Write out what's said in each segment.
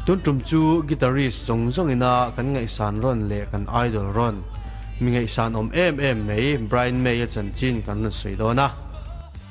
Tun tum chu guitarist zawng zawng in a kan ngaih san rawn leh kan idol rawn mi ngaih san awm em em mai Brian May a chanchin kan rawn sawi dawn a.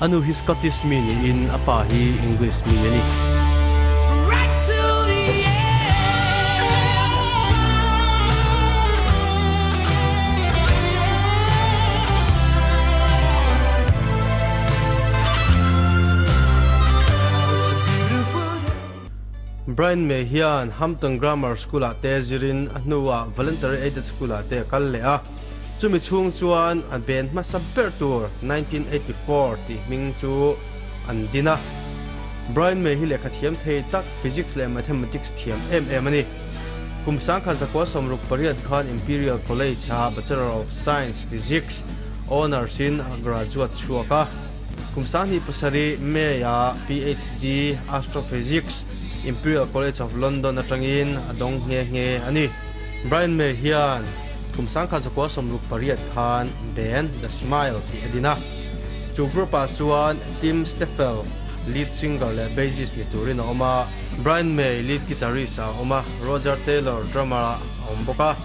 A nu hi Scottish mi niin a pa hi English mi a ni. Brian May hian Hampton Grammar School ah te zir in a hnu ah Voluntary Aided School ah te a kal leh a. Chumi chhung chuan a ben hmasa ber tur nineteen eighty four tih hming chu an din a. Brian May hi lehkha thiam thei tak, Physics leh Mathematics thiam em em a ni. Kum sangkhat zakua sawmruk pariat khan Imperial College ah Bachelor of Science, Physics, Honours in a graduate chhuak a. Kum sanghnih pasarih May a PhD, Astrophysics, Imperial College of London atangin a dawng nghe nghe a ni. Brian May hian Khumsang kha Zakua sawmruk pariat khan band The Smile tih a din a. Chu group ah chuan Tim Steffel, lead singer leh bassist ni turin a awm a. Brian May, lead guitarist a awm a, Roger Taylor, drummer a awm bawk a.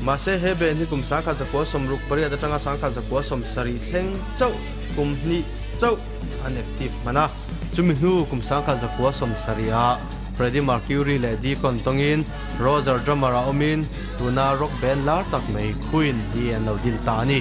Mahse he band hi kum sangkhat zakua sawmruk pariat atanga sangkhat zakua sawm sarih thleng chauh, kum hnih chauh an active hman a. Chumi hnu kum sangkhat zakua sawm sarih ah Freddie Mercury leh Deacon tawngin Roger Drummer ah awmin tuna rock band lar tak mai Queen hi an lo dil ta a ni.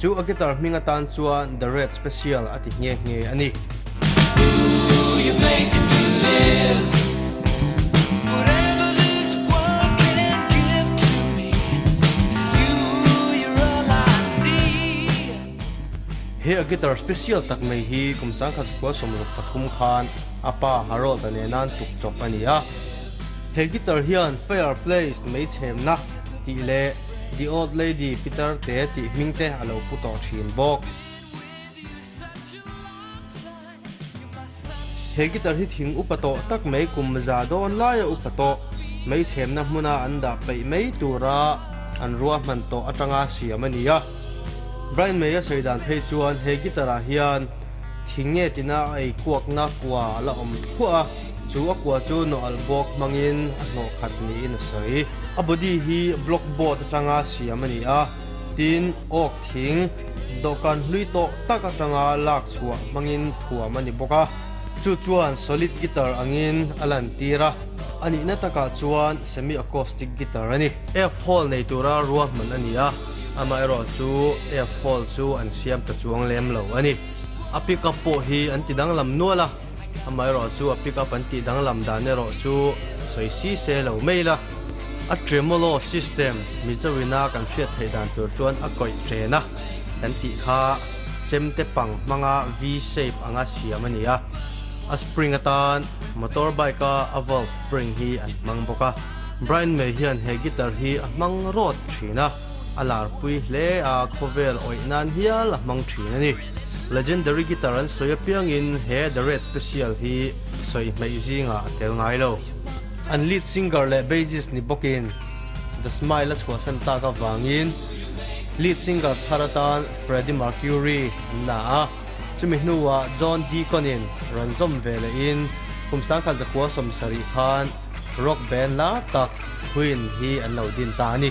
Chu a guitar hming atan chuan The Red Special a ti nghe nghe a ni. He a guitar special tak mai hi kum sangkhat sakhua sawmluk pathum khan a pa Harold-a nena an tukchawp a ni a. He guitar hian Fireplace, Meichhemna, tih leh, The Old Lady Peter te tih hming te a lo pu tawh thin bawk. He guitar hi thing upa tawh tak mai kum za dawn laia upa tawh mai chhemna hmuna an dah peih mai tura an ruahman tawh atanga siam a ni a. Brian May a sawi dan phei chuan he guitar ah hian thing nge tina a ei kuakna kua a la awm thluah a. Chu a kua chu Noel bawk hmangin a hnawh khat niin a sawi. A body hi block board atanga siam a ni a, tin oak thing dawhkan hlui tawh tak atanga lak chhuah hmangin thuam a ni bawk a. Chu chuan solid guitar angin a lantir a, a nihna takah chuan semi-acoustic guitar a ni. F hole nei tura ruahman a ni a, amaherawh chu F hole chu an siam ta chuang lem lo a ni. A pickup pawh hi an ti danglam nual a. Amaherawh chu a pick up an tih danglam dan erawh chu sawi si se lo mai la, a tremolo system Mizo ina kan hriat theih dan tur chuan a kawih chen a kan tih kha chem te pang hmanga V shape anga siam a ni a, a spring atan motor bike a a valve spring hi an hmang bawk a, Brian May hian he guitar hi a hmang rawt thin a, a larpui hle a khawvel awih nan hial a hmang thin a ni. Legendary guitar an sawi apiangin he The Red Special hi sawi hmeih zingah a tel ngai lo. An lead singer leh bassist ni bawkin The Smile a chhuahsan tak avangin lead singer thar atan Freddie Mercury an la a, chumi hnuah John Deacon-in ranzawm ve lehin kum sangkhat zakua sawm sarih khan rock band lar tak Queen hi an lo din ta a ni.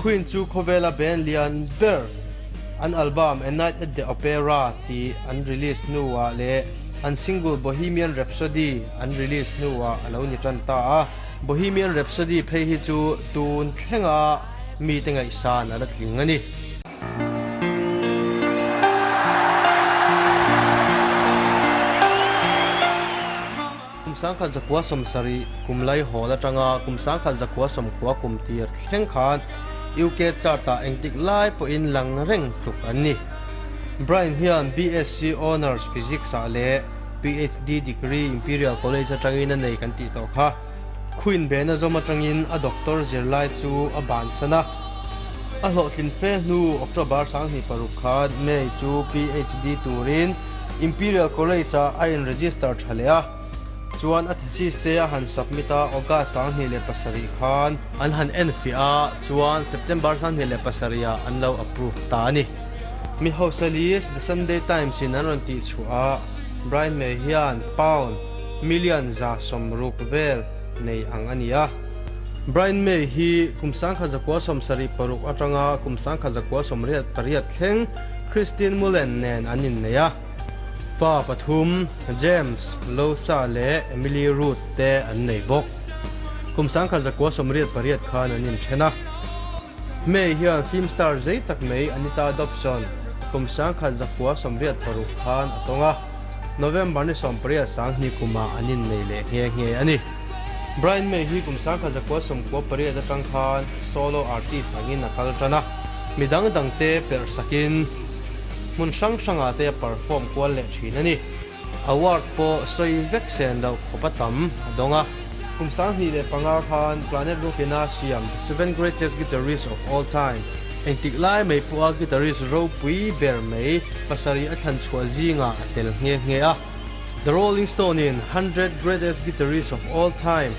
Queen chu khawvela band lian ber an album A Night at the Opera tih an release hnuah leh an single Bohemian Rhapsody an release hnuah a lo ni tan ta a. Bohemian Rhapsody phei hi chu tun thlenga mite ngaihsan a la tling a ni. Kum sangkhat zakhua sawm sarih kum lai hawl atanga kum sangkhat zakhua sawm khua kum tir thleng khan UK chart ah engtik lai pawhin lang reng tluk an ni. Brian hian BSc Honours Physics ah leh PhD degree Imperial College atangin a nei kan tih tawh kha, khu inben a zawm atangin a doctor zir lai chu a bansan a. A hlawhtlinfe hnu October sanghnih paruk khan May chu PhD turin Imperial College-a a enregister tha leh a, chuan a thesis te a han submit a, August sanghnih leh pasarih khan. An han en fiah a, chuan September sanghnih leh pasarihah an lo approve ta a ni. Mi Hausalis The Sunday Times-in an rawn tih chhuah a, Brian May hian pound million za sawm ruk vel nei ang a ni a. Brian May hi kum sangkhat zakua sawm sarih paruk atanga kum sangkhat zakua sawm riat pariat thleng Christine Mullen nen an innei a, fa pathum James, Losa leh Emily Root te an nei bawk. Kum sangkhat zakua sawmriat pariat khan an inthen a. Hmei hian film star zei tak mai Anita Dobson kum sangkhat zakua sawmriat paruk khan a tawng a. November ni sawmpariat sanghnih kumah an innei leh nghe nghe a ni. Brian May hi kum sangkhat zakua sawmkua pariat atang khan solo artist angin a kal tan a, mi dang dang te perh sakin hmun hrang hrangah te a perform kual leh thin a ni. Award pawh sawi vek sen loh khawp a tam a dawng a. Kum sang hnih leh panga khan Planet Rock ina siam Seven Greatest Guitarists of All Time engtik lai mai pawha guitarist ropui ber mai pasarih a thlan chhuah zingah a tel nghe nghe a. The Rolling Stone-in Hundred Greatest Guitarists of All Time,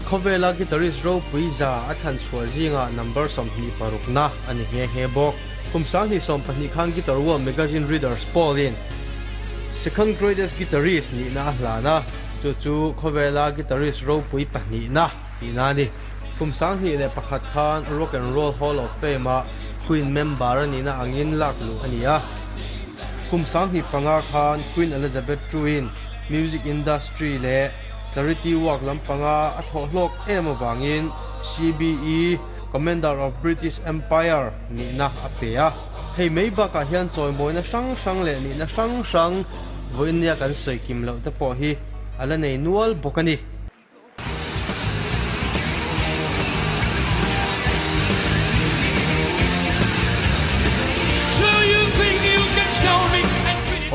Khawvela guitarist ropui za a thlan chhuah zingah number sawmhnih parukna a ni nghe nghe bawk. Kum sanghnih sawm pahnih khan Guitar World Magazine Readers Poll-in Second Greatest Guitarist nihna a hlan a, chu chu Khawvela guitarist ropui pahnihna. Tih na a ni. Kum sanghnih leh pakhat khan Rock and Roll Hall of Fame-a Queen member a nihna angin lak luh a ni a. Kum sanghnih panga khan Queen Elizabeth II-in music industry leh charity work lam panga a thawh hlawk em avangin CBE, Commander of British Empire, nihna a pe a. Hei mai bakah hian chawimawina hrang hrang leh nihna hrang hrang vawiin nia kan sawi kim loh te pawh hi a la nei nual bawk a ni.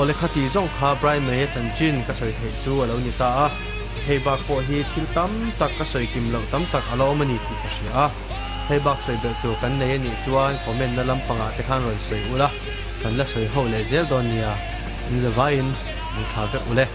Aw le kha ti zawng kha Brian May a chanchin ka sawi theih chu a lo ni ta a, hei bak pawh hi thil tam tak ka sawi kim loh tam tak a lo awm a ni tih ka hria a, hei bak sawi belh tur kan nei a nih chuan comment na lam pangah te khan rawn sawi u la, kan la sawi ho leh zel dawn nia, in zavaiin mu tha vek u le.